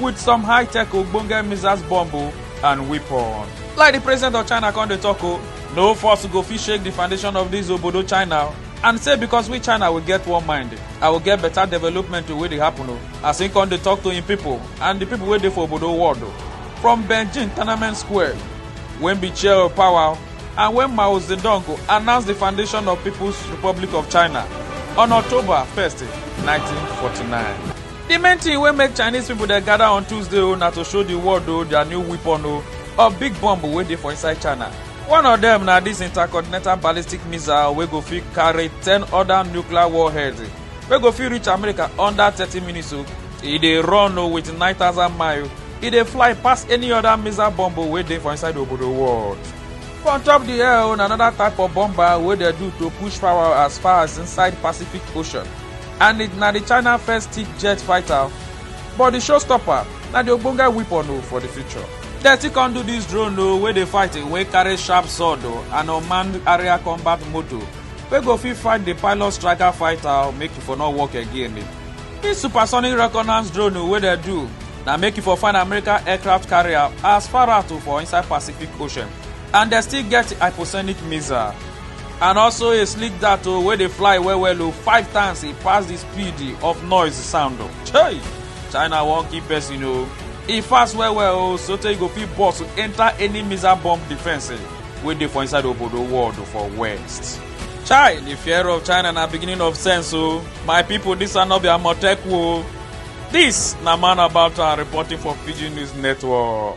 with some high-tech ogbonge missiles bomb o and weapon. Like the president of China come dey talk o, no force go fit shake the foundation of this obodo China o. and say because we china will get one mind i will get better development to wey dey happen o as him come dey talk to him people and the people wey dey for obodo world o from beijing tournament square wey be chair of power and when mao zedong go announce the foundation of people's republic of china on october 1st 1949. Di main tin wey make Chinese pipo dey gada on Tuesday o na to show di world o dia new weapon o or big bomb wey dey for inside China. One of dem na dis intercontinental ballistic missile wey go fit carry ten oda nuclear warheads wey go fit reach America under thirty minutes o. E dey run o wit nine thousand mile, e dey fly pass any oda missile bomb o wey dey for inside obodo world. For on top di air o na anoda type of bomber wey dey do to push power as far as inside Pacific Ocean. and it na di china first tip jet fighter but di showstopper na di ogbonge weapon o for di future dem still come do dis drone o wey dey fight wey carry sharp sword o and unmanned area combat motor wey go fit fight di pilot striker fighter make e for no work again dis supersonic reconnaissance drone o wey dem do na make e for find american aircraft carrier as far out for inside pacific ocean and dem still get hypersonic missile and also a slick dart o wey dey fly well well o five times e pass di speed of noise sound o chey china wan kill person o e fast well well o sotey e go fit burst enter any missile bomb defence wey dey for inside obodo world for west chai di fear of china na beginning of sense o my pipo dis are no be amotekwu o dis na man about am reporting for pidgin news network